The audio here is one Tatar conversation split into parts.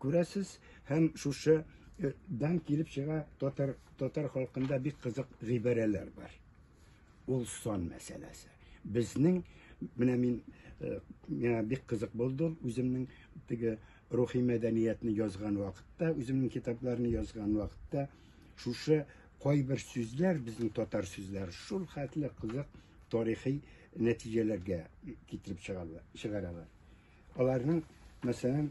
Күрәсез, һәм шушы дан килеп чыга татар татар халкында бик кызык гыйбарәләр бар. Ул сон мәсьәләсе. Безнең менә мин э, миңа бик кызык булды үземнең теге рухи мәдәниятне язган вакытта, үземнең китапларны язган вакытта шушы кайбер сүзләр безнең татар сүзләре шул хәтле кызык тарихи нәтиҗәләргә китереп чыгаралар. Аларның, мәсәлән,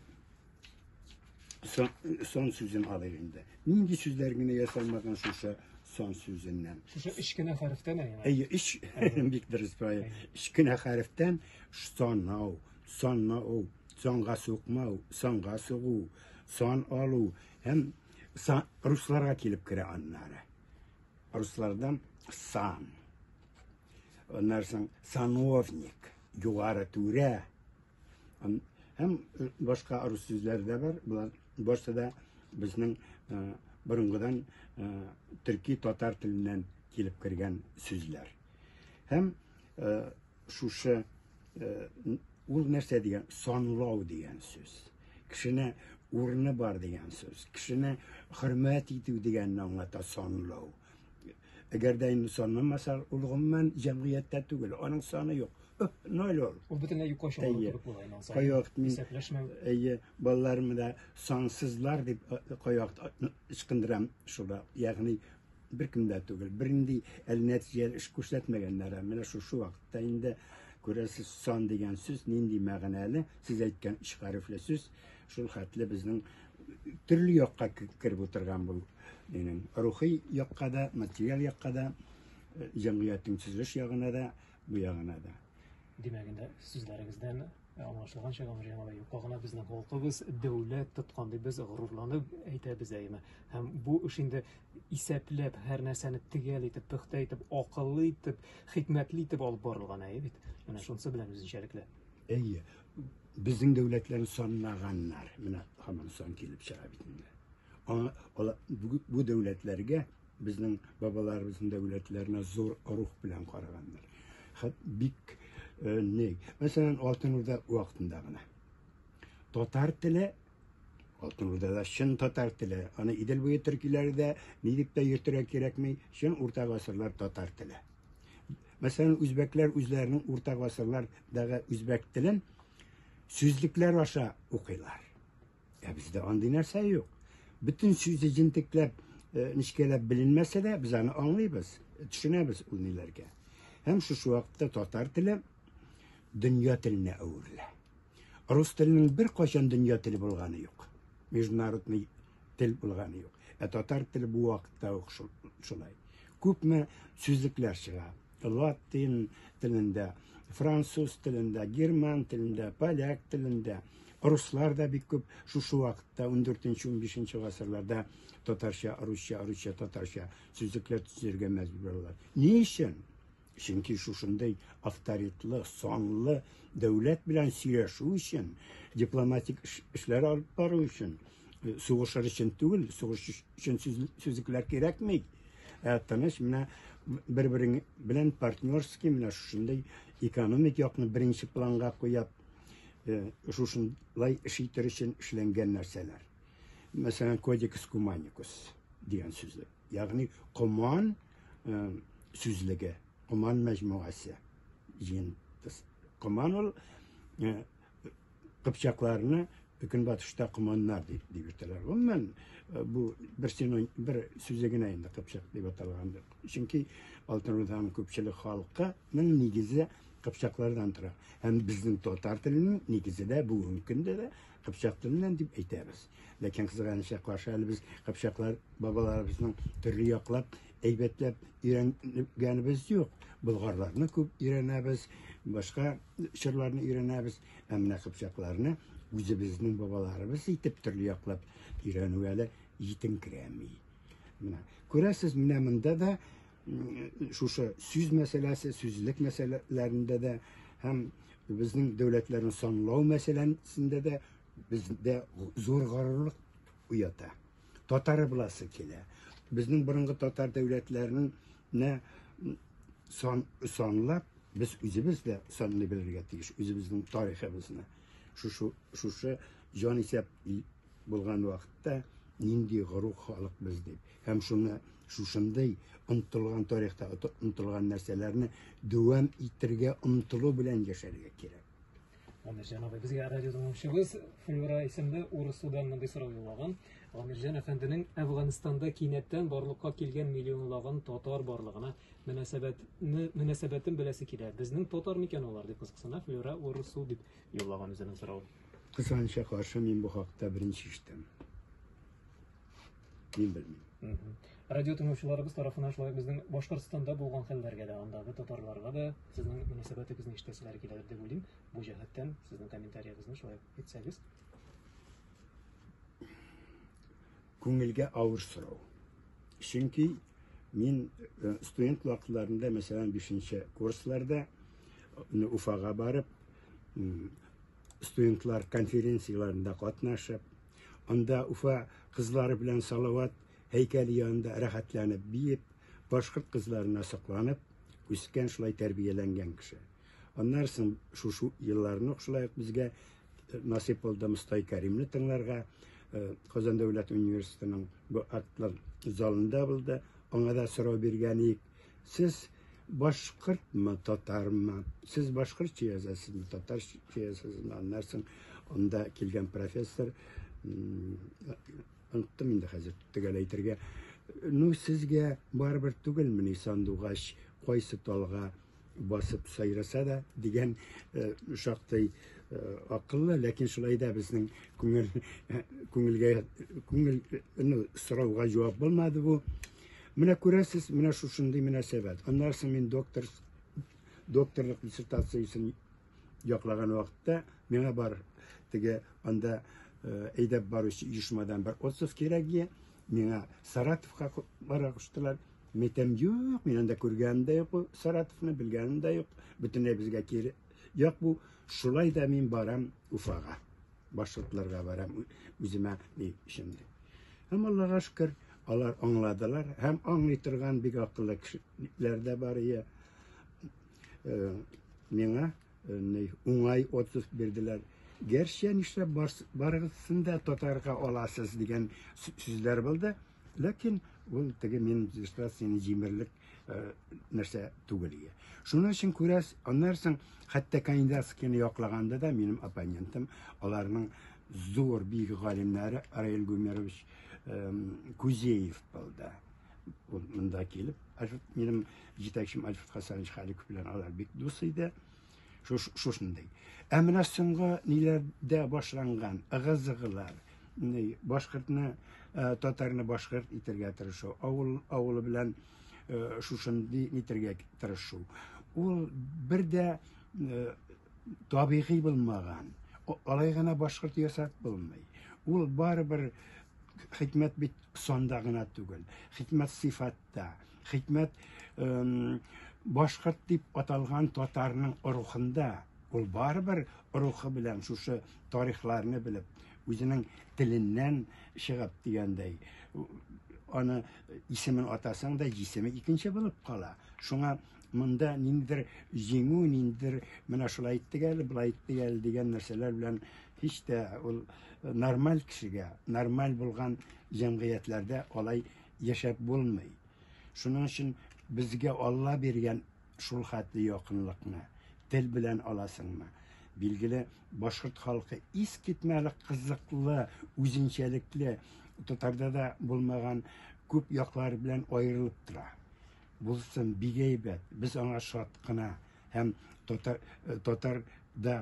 сон, сон сүзен алыйк инде. Нинди сүзләр генә ясалмаган шушы сон сүзеннән. Шушы өч кенә хәрефтән әйе. Әйе, өч бик дөрес бай. Өч кенә хәрефтән санау, санау, санга сукмау, санга сугу, сан алу һәм сан русларга килеп керә аннары. Руслардан сан Аннан соң сановник, югары түрә. Һәм башка рус сүзләре дә бар. Болар башта да безнең борынгыдан төрки татар теленнән килеп кергән сүзләр. Һәм шушы ул нәрсә дигән санлау дигән сүз. Кешене урыны бар дигән сүз. Кешене хөрмәт итү дигәнне аңлата санлау. Әгәр дә инде санламаса, ул гомумән җәмгыятьтә түгел, аның саны юк. Ноль ул. Ул бөтенләй юкка чыга кебек була инде ансар. Кайвакыт мин исәпләшмәү. Әйе, балаларымны да сансызлар дип кайвакыт ычкындырам шуга. Ягъни бер кем дә түгел, бернинди әле нәтиҗәле эш күрсәтмәгәннәр. Менә шушы вакытта инде күрәсез, сан дигән сүз нинди мәгънәле, сез әйткән өч хәрефле сүз, шул хәтле безнең төрле якка кереп утырган бул. Минем рухи якка да, материал якка да, э, җәмгыятьнең төзелеш ягына да, бу ягына да. Димәк инде сүзләрегездән аңлашылган чак аңа җиңә юкка гына безнең халкыбыз дәүләт тоткан дип без горурланып әйтәбез әйме һәм бу эш инде исәпләп һәр нәрсәне төгәл итеп пөхтә итеп акыллы итеп хикмәтле итеп алып барылган әйе бит менә шунысы белән үзенчәлекле әйе безнең дәүләтләрне санлаганнар. Менә һаман сан килеп чыга бит инде. Бу дәүләтләргә безнең бабаларыбызның дәүләтләренә зур рух белән караганнар. Хәт бик э, не. Мәсәлән, Алтын Урда вакытында гына. Татар теле Алтын Урдада чын татар теле. Аны Идел буе төркиләре дә ни дип тә йөртергә кирәкми. Чын урта гасырлар татар теле. Мәсәлән, үзбәкләр үзләренең урта гасырлардагы үзбәк телен сүзлекләр аша укыйлар. Ә бездә андый нәрсә юк. Бөтен сүзе җентекләп, э, нечкәләп беленмәсә дә, без аны аңлыйбыз, төшенәбез ул ниләргә. Һәм шушы вакытта татар теле дөнья теленә әверелә. Рус теленең бер кайчан дөнья теле булганы юк. Международный тел булганы юк. Ә татар теле бу вакытта ук шулай. Күпме сүзлекләр чыга. Латин телендә, француз телендә, герман телендә, поляк телендә, руслар да бик күп шушы вакытта 14-15 гасырларда татарча, русча, русча, татарча сүзлекләр төзергә мәҗбүр булалар. Ни өчен? Чөнки шушындый авторитлы, санлы дәүләт белән сөйләшү өчен, дипломатик эшләр алып бару өчен, э, сугышыр өчен түгел, сугыш өчен сүзлекләр кирәкми. Ә тыныч менә бер-берең белән партнерский менә шушындый экономик якны беренче планга куеп, э, шушындый эш итер өчен эшләнгән нәрсәләр. Мәсәлән, кодекс куманикус дигән сүзлек. Ягъни Коман э, сүзлеге, Коман мәҗмугасы. Җин Коман ул э, кыпчакларны көнбатышта команнар дип дип йөртәләр. Гомумән э, бу бер синоним бер сүзе генә инде кыпчак дип аталгандыр. Чөнки Алтын Урданың күпчелек халкының нигезе кыпчаклардан тора. Һәм безнең татар теленең нигезе дә бүгенге көндә дә Кыпчак теленнән дип әйтәбез. Ләкин кызганычка каршы әле без кыпчаклар бабаларыбызның төрле яклап әйбәтләп өйрәнгәнебез юк. Болгарларны күп өйрәнәбез, башка чорларны өйрәнәбез, ә менә кыпчакларны үзебезнең бабаларыбыз итеп төрле яклап өйрәнү әле җитенкерәми. Менә күрәсез, менә монда да шушы сүз мәсьәләсе, сүзлек мәсьәләләрендә дә һәм безнең дәүләтләрне санлау мәсьәләсендә дә бездә зур горурлык уята. Татары буласы килә. Безнең борынгы татар дәүләтләрен сан, санлап, без үзебез дә санлый белергә тиеш, үзебезнең тарихыбызны. Шушы, шушы җан исәп булган вакытта нинди горур халык без дип һәм шуны шушындый онытылган тарихта онытылган нәрсәләрне дәвам итәргә омтылу белән яшәргә кирәк. Гамирҗан абый, безгә радио тыңлаучыбыз Флюра исемле урыс судан мондый сорау юллаган. Гамирҗан әфәнденең Әфганстанда кинәттән барлыкка килгән миллионлаган татар барлыгына мөнәсәбәтне мөнәсәбәтен беләсе килә. Безнең татар микән алар дип кызыксына Флюра урыс су дип юллаган үзенең соравын. Кысанча каршы мин бу хакта беренче ишетәм. Мин белмим. Радио тыңлаучыларыбыз тарафына шулай безнең Башкортстанда булган хәлләргә дә, андагы татарларга да сезнең мөнәсәбәтегезне ишетәселәре киләдер дип уйлыйм. Бу җәһәттән сезнең комментарияегезне шулай әйтсәгез. Күңелгә авыр сорау. Чөнки мин э, студент вакытларында, мәсәлән, 5 курсларда э, Уфага барып, студентлар конференцияләрендә катнашып, анда Уфа кызлары белән Салават һәйкәле янында рәхәтләнеп биеп, башкорт кызларына сокланып, үскән шулай тәрбияләнгән кеше. Аннан соң шушы елларны ук шулай ук безгә э, насыйп булды Мостай Кәримне тыңларга. Э, Казан дәүләт университетының бу актлар залында булды. Аңа да сорау биргән идек. Сез башкортмы, татармы? Сез башкортча язасызмы, татарча язасызмы? Аннан соң анда килгән профессор оныттым инде хәзер төгәл әйтергә. Ну, сезгә барыбер түгелмени сандугач кайсы талга басып сайраса да дигән э, шактый э, акыллы, ләкин шулай да безнең күңел күңелгә күңел ну, сорауга җавап булмады бу. Менә күрәсез, менә шушындый мөнәсәбәт. Аннан соң мин доктор докторлык диссертациясен яклаган вакытта миңа бар теге анда э, әйдәп баручы оешмадан бер отзыв кирәк ие миңа саратовка бара куштылар мин әйтәм юк мин анда күргәнем дә юк саратовны белгәнем дә юк бөтенләй безгә кире як бу шулай да мин барам уфага башкортларга барам, үземә ни өчен. Һәм Аллага шөкер, алар аңладылар һәм аңлый торган бик акыллы кешеләр дә бар ия. Э, миңа э, уңай отпуск бирделәр. Гәрчә нишләп барыгызны да татарга аласыз дигән сүзләр булды. Ләкин ул теге мин дистракцияне җимерлек э, нәрсә түгел ие. Шуның өчен күрәс, аннан соң хәтта кандидатскийны яклаганда да минем оппонентым аларның зур бик галимнәре Раил Гумерович Кузеев булды. Ул монда килеп, минем җитәкчем Альфред Хасанович Халиков белән алар бик дус иде. Шуш, шушындый. Ә менә соңгы ниләрдә башланган ыгы-зыгылар, башкортны, э, татарны башкорт итергә тырышу, авыл авылы белән э, шушындый нитергә тырышу. Ул бер дә э, табигый булмаган. Алай гына башкорт ясап булмый. Ул барыбер хикмәт бит сонда гына түгел. Хикмәт сыйфатта. Хикмәт башкорт дип аталган татарның рухында. Ул барыбер рухы белән шушы тарихларны белеп, үзенең теленнән чыгып дигәндәй, аны исемен атасаң да җисеме икенче булып кала. Шуңа монда ниндидер җиңү, ниндидер менә шулай иттек әле, былай иттек әле дигән нәрсәләр белән һич тә ул нормаль кешегә, нормаль булган җәмгыятьләрдә алай яшәп булмый. Шуның өчен безгә Алла биргән шул хәтле якынлыкны тел белән аласыңмы? Билгеле, башкорт халкы искитмәлек кызыклы, үзенчәлекле, татарда да булмаган күп яклары белән аерылып тора. Булсын, бик әйбәт, без аңа шат кына. Һәм татар татар да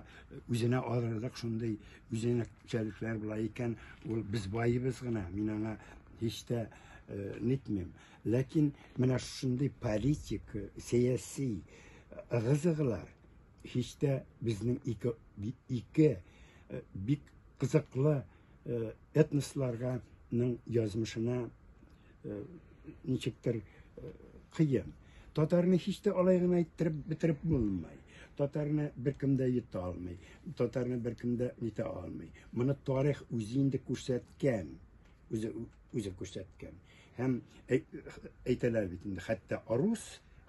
үзенә алырлык шундый үзенчәлекләр була икән, ул без баебыз гына, мин аңа һич тә нитмим. Ләкин менә шундый политик, сәяси ыгы-зыгылар һич тә безнең ике, ике бик кызыклы этносларга язмышына э, ничектер э, кыен. Татарны һич тә алай гына иттереп бетереп булмый. Татарны беркем дә йота алмый. Татарны беркем дә нитә алмый. Моны тарих үзе инде күрсәткән. Үзе үзе күрсәткән. Һәм әйтәләр бит инде, хәтта арус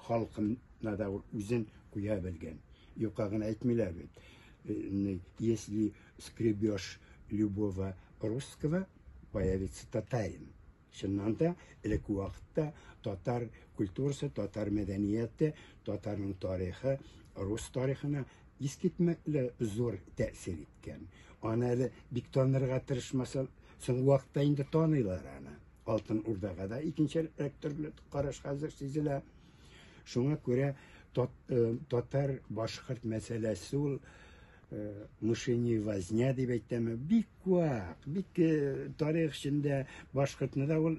халкына да үзен куя белгән. Юкка гына әйтмиләр бит. Э, если скребешь любого русского, появится татарин. Чыннан да, элекке вакытта татар культурасы, татар мәдәнияте, татарның тарихы рус тарихына искитмәкле зур тәэсир иткән. Аны әле бик танырга тырышмаса, соң вакытта инде таныйлар аны. Алтын Урдага да икенче төрле караш хәзер сизелә. Шуңа күрә татар башкорт мәсьәләсе ул мышине возня дип әйтәме, бик вак, бик тарих эчендә башкортны да ул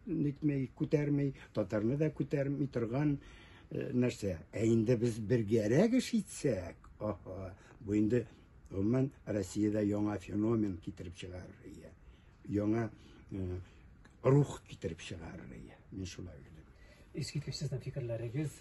нитмей, күтәрмей, татарны да күтәрми торган нәрсә. Ә инде без бергәрәк эш итсәк, аха, бу инде гомумән Россиядә яңа феномен китереп чыгарыр. Яңа рух китереп чыгарырга, мин шулай уйлыйм. Искиткеч сезнең фикерләрегез!